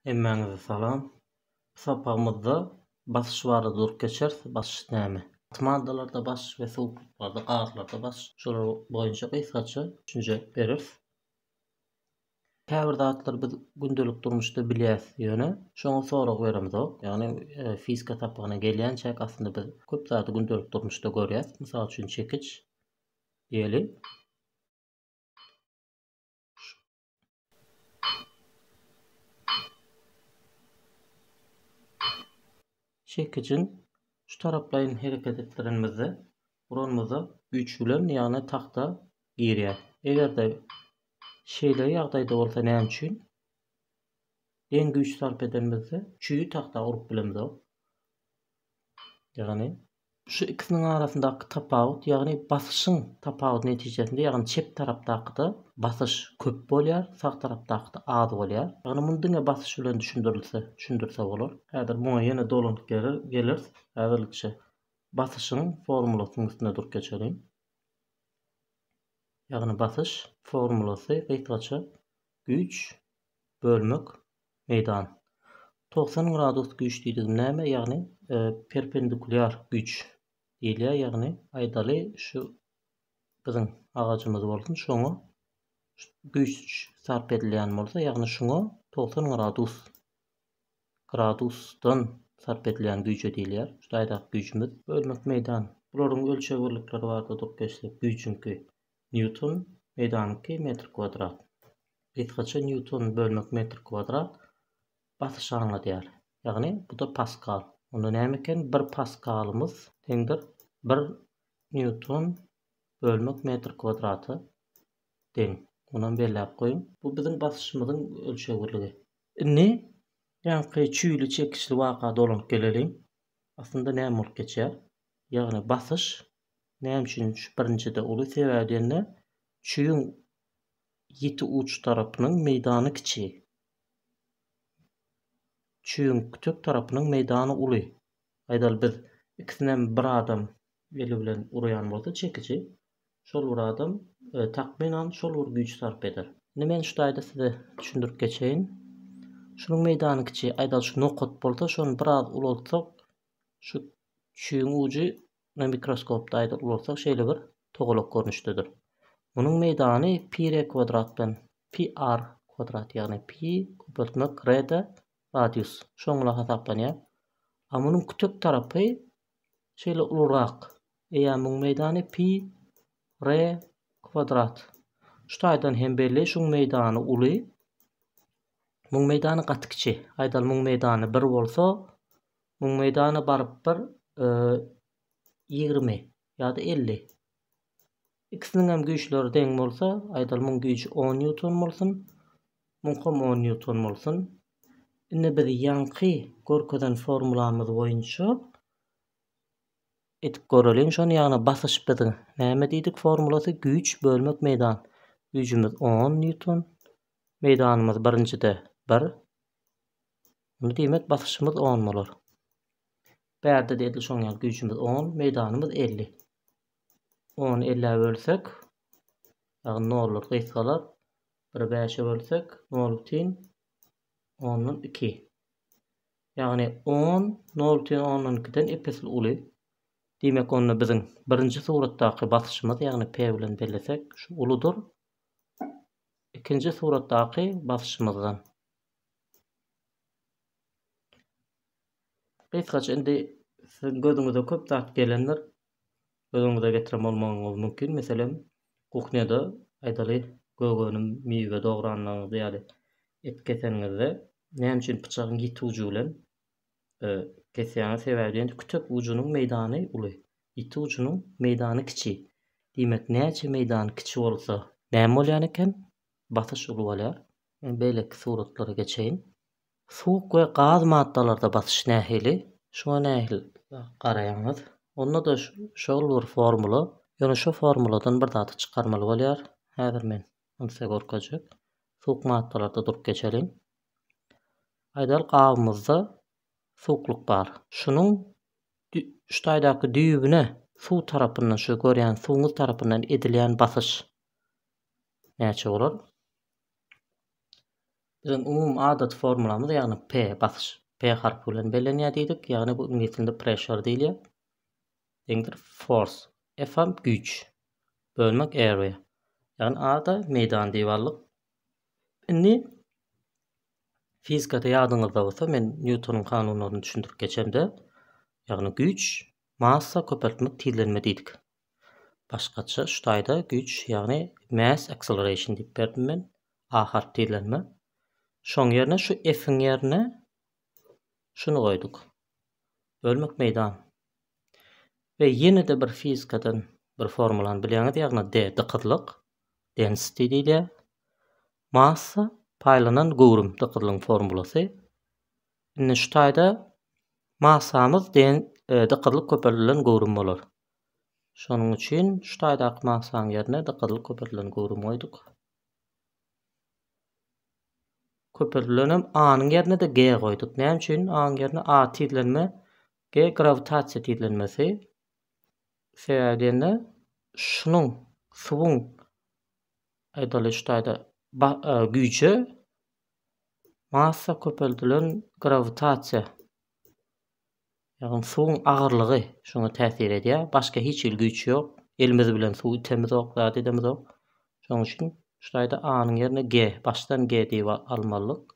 Hemmäňize salam. Bu sapagymyzda basyş barada durup geçeris. Basyş näme? Gaty maddalarda basyş we suwuklyklarda, gazlarda basyş. Şolar boýunça gysgaça düşünje bereris. Käbir zatlary biz gündelik durmuşda bilýäs ýöne şoňa sorag beremizok. Ýagny fizika sapagyna gelýänçäk aslynda biz köp zady gündelik durmuşda görýäs. Mysal üçin çekiç diýeli. Çekijiň şu taraplaýyn hereket etdirenimizde buramyza güýç bilen ýagny tagta girýär. Eger-de şeýle ýagdaýda bolsa näme üçin geň güýç sarp edenimizde çüý tagta urup bilemizok. Ýagny Şu ikisiniň arasyndaky tapawut, ýagny basyşyň tapawudy netijesinde, ýagny çep tarapdakyda basyş köp bolýar, sag tarapdakyda az bolýar. Ýagny muny diňe basyş bilen düşündirilse, düşündirse bolar. Häzir muňa ýene dolanyp geleris. Häzirlikçe basyşyň formulasynyň üstünde durup geçeliň. Ýagny basyş formulasy gysgaça güýç bölmek Meýdan. Togsan gradus güýç diýdigim näme? Ýagny perpendikulýar güýç diýilýär. Ýagny aýdaly şu biziň agajymyz bolsun şoňa güýç sarp edilýän bolsa ýagny şuňa togsan gradus gradusdan sarp edilýän güýje diýilýär. Şu taýdaky güýjümiz. Bölmek meýdan. Bularyň ölçeg birlikleri bardyr dok geçsek güýjüňki. Nýuton meýdanyňky metr kwadrat. Gysgaça nýuton bölmek metr kwadrat basyşy aňladýar. Ýagny bu-da paskal. Onda näme eken? Bir paskalymyz deňdir bir nýuton bölmek metr kwadrata deň. Munam belläp goýuň. Bu biziň basyşymyzyň ölçegirligi. Indi ýaňky çüýli çekiçli waka dolanyp geleliň. Aslynda näme bolup geçýär? Ýagny basyş Näme üçin şu birinjide uly sebäbi diýende çüýüň ýiti uç tarapynyň meýdany kiçi. Çüýüň kütek tarapynyň meýdany uly. Aýdaly biz ikisinem bir adam eli bilen urýan bolsa çekiji şol bir adam takmynan şol bir güýji sarp eder. Indi men şu taýda size düşündirip geçeýin. Şunuň meýdany kiçi, aýdaly şu nokat bolsa şony biraz ulaltsak şu çüýüň ujy Muny mikroskopda aýdar bolsak şeýle bir togalak görnüşdedir. Munuň meýdany pi r kwadratdan pi r kwadrat ýagny pi köpeltmek r de radius şoňla hasaplanýar. A munuň kütek tarapy şeýle ulurak. Eýa muň meýdany pi r kwadrat. Şu taýdan hem belli şuň meýdany uly. Muň meýdany gaty kiçi. Aýdaly muň meýdany 1 bolsa Müň meýdana baryp bir ýigrimi ýa-da elli. Ikisiniň hem güýçleri deň bolsa, aýdaly müň güýji on nýuton bolsun, müňkam on nýuton bolsun. Indi biz ýaňky görkezen formulamyz boýunça edip göreliň şony, ýagny basyş biz näme diýdik formulasy güýç bölmek meýdan. Güýjümiz on nýuton, meýdanymyz birinjide bir. Indi diýmek basyşymyz on bolar. Bärde-de edil şoň ýaly güýjümiz on, meýdanymyz elli. Ony ellä bölsek, ýagny nollar gysgalar. Biri bäşe bölsek, nol bütin ondan iki. Ýagny on nol bütin ondan ikiden ep-esli uly. Diýmek, onda biziň birinji suratdaky basyşymyz, ýagny P bilen bellesek, şu uludyr. Ikinji suratdaky basyşymyzdan Gysgaça indi siziň gözüňize köp zat gelendir. Göz öňüňize getiren bolmagyňyz mümkin. Meselem, kuhnýada aýdaly gök önüm, miwe dogranyňyz ýa-da et keseniňizde näme üçin pyçagyň ýiti ujy bilen kesýäňiz? Sebäbi diýen kütek ujunyň meýdany uly, ýiti ujunyň meýdany kiçi. Diýmek, näçe meýdan kiçi bolsa, näme bolýan eken? Basyş uly bolýar. Men beýleki suratlara geçeýin. Suwuk we gaz maddalarda basyş nähili? Şuňa nähili garaýaňyz? Onda-da şol bir formula. Ýöne şu formuladan bir zady çykarmaly bolýar. Häzir men ony size görkezjek. Suwuk maddalarda durup geçeliň. Aýdalyk, gabymyzda suwuklyk bar. Şunuň şu taýdaky düýbüne suw tarapyndan, şu görýän suwuňyz tarapyndan edilýän basyş näçe bolar? Biziň umumy adaty formulamyz, ýagny P basyş P harpy bilen bellenýär diýdik. Ýagny bu iňlis dilinde pressure diýilýär. Deňdir force. F hem güýç. Bölmek area. Ýagny A-da meýdan diýip aldyk. Indi fizikada ýadyňyzda bolsa men Nýutonyň kanunlaryny düşündirip geçemde, ýagny güýç, massa, köpeltmek, tizlenme diýdik. Başgaça şu taýda güýç, ýagny mass acceleration diýip berdim men. A harp tizlenme. Şoň ýerine şu F-iň ýerine şuny goýduk. Bölmek meýdan. Ve ýene-de bir fizikadan bir formulany bilýäňiz, ýagny D dykyzlyk, density diýilýär. Massa paýlanan göwrüm dykyzlygyň formulasy. Indi şu taýda massamyz den e, dykyzlyk köpeldilen göwrüm bolar. Şonuň üçin şu taýdaky magsaň ýerine gyzyl köpürdilen göwrüm goýduk. Köpürdilenem A-nyň ýerine-de G goýduk. Näme üçin? A-nyň ýerine A tizlenme, G grawitasiýa tizlenmesi. Sebäbi diýende şunuň suwuň aýdaly şu taýda e, güýji massa köpürdilen grawitasiýa Ýagny suwuň agyrlygy şuňa täsir edýär. Başga hiç hili güýç ýok. Elimiz bilen suw itemizok, zat edemizok. Şonuň üçin şu taýda A-nyň ýerine G, başdan G diýip almalyk.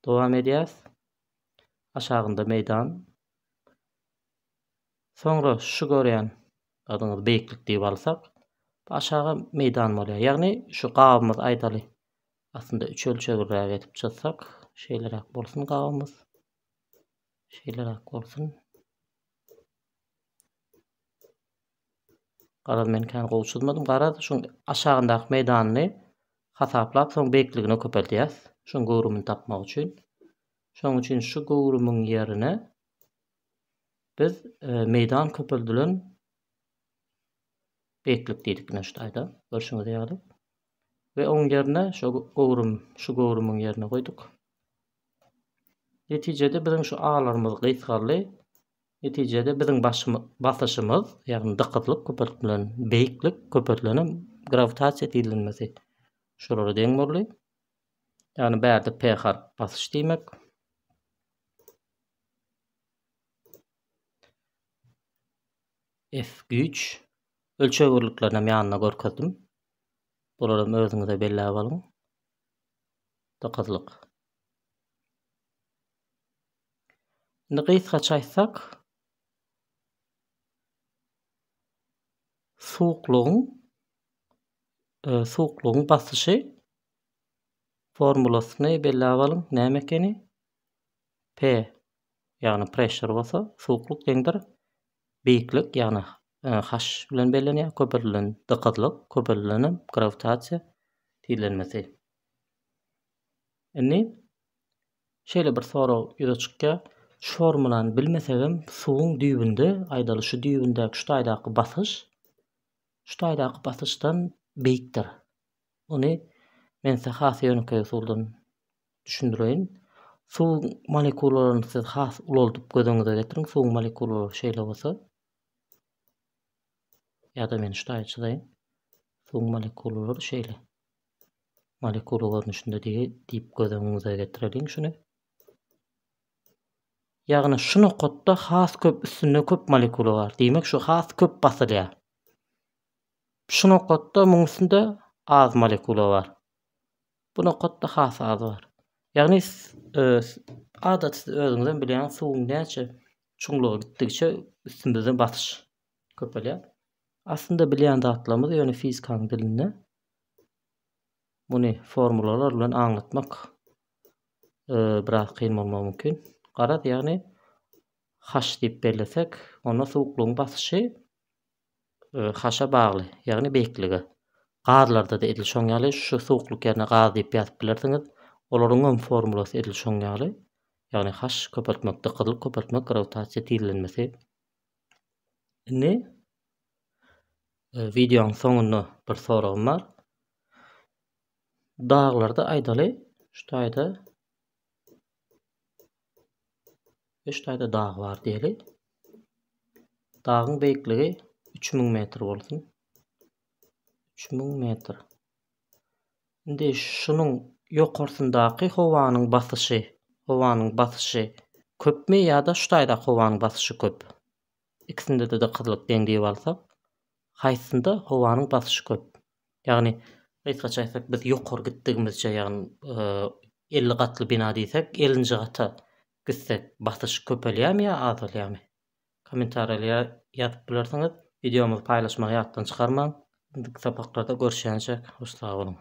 Dowam edýäs. Aşagynda meýdan. Soňra şu görýän adyňyz beýiklik diýip alsak, aşaga meýdan bolýar. Ýagny şu gabymyz aýdaly Aslynda üç ölçegirräk edip çyzsak, şeýleräk bolsun gabymyz. Şeýleräk bolsun. Garaz men kän gowy çyzmadym. Garaz şu aşagyndaky meýdanyny hasaplap, soň beýikligini köpeldýäs. Şuň göwrümini tapmak üçin. Şoň üçin şu göwrümiň ýerine biz e, meýdan köpeldilen beýiklik diýdik ine şu taýda. Görşüňiz ýaly. We oň ýerine şo göwrüm, şu göwrümiň ýerine goýduk. Netijede biziň şu A-larymyz gysgaldy. Netijede biziň başymyz, basyşymyz, ýagny dykyzlyk köpeltilen, beýiklik köpeltilenem grawitasiýa tizlenmesi şolara deň boldy. Ýagny bärde P harp basyş diýmek. F güýç. Ölçeg birliklerini hem ýanynda görkezdim. Bularam özüňize belläp alyň. Dykyzlyk. Indi gysgaça aýtsak, suwuklygyň e, suwuklygyň basyşy formulasyny belläp alyň. Näme ekeni? P, ýagny pressure bolsa, suwuklyk deňdir beýiklik, ýagny H bilen bellenýär, köpeldilen dykyzlyk, köpeldilen hem grawitasiýa tizlenmesi. Indi şeýle bir sorag ýüze çykýar, şu formulany bilmesegem suwuň düýbünde, aýdaly şu düýbündäki şu taýdaky basyş şu taýdaky basyşdan beýikdir. Ony men size has ýönekeý usuldan Düşündireýin. Suwuň molekulalaryny siz has ulaldyp göz öňüňize getiriň. Suwuň molekulalary şeýle bolsa. Ýa-da men ştaýy çyzaýyn. Suwuň molekulalary şeýle. Molekula görnüşinde diýip göz öňüňize getireliň şuny. Ýagny şu nokatda has köp üstünde köp molekula bar. Diýmek şu has köp basylýar. Şu nokatda muň üstünde az molekula bar. Bu nokatda has az bar. Ýagny adaty siz özüňizem bilýäňiz, suwuň näçe çuňluga gitdigiçe üstümizden basyş köpelýär. Aslynda bilýän zatlarymyz ýöne fizikanyň dilinde muny formulalar bilen aňlatmak e, biraz kyn bolmagy mümkin. Garaz, ýagny H diýip bellesek, onda suwuklygyň basyşy Haşa bagly, ýagny beýiklige. Gazlarda-da edil şoň ýaly, şu suwuklyk ýerine gaz diýip ýazyp bilersiňiz. Olaryňam formulasy edil şoň ýaly. Ýagny haş köpeltmek, dykyzlyk köpeltmek, grawitasiýa tizlenmesi. Indi wideoň soňunda bir soragym bar. Daglarda aýdaly, şu taýda Üç taýda dag bar diýeli. Dagyň beýikligi 3000 metr bolsun. 3000 metr. Indi şunuň ýokarsyndaky howanyň basyşy, howanyň basyşy köpmi ýa-da şu taýda howanyň basyşy köp? Ikisinde-de dykyzlyk deň diýip alsak, haýsynda howanyň basyşy köp? Ýagny, gysgaça aýtsak, biz ýokary gitdigimizçe, ýagny, elli gatly bina diýsek, ellinji gata gitsek, basyş köpelýärmi ýa azalýarmy? Kommentariýa ýazyp bilersiňiz. Wideomyzy paýlaşmagy ýatdan çykarmaň. Indiki sapaklarda görüşýänçäk, hoş sag boluň!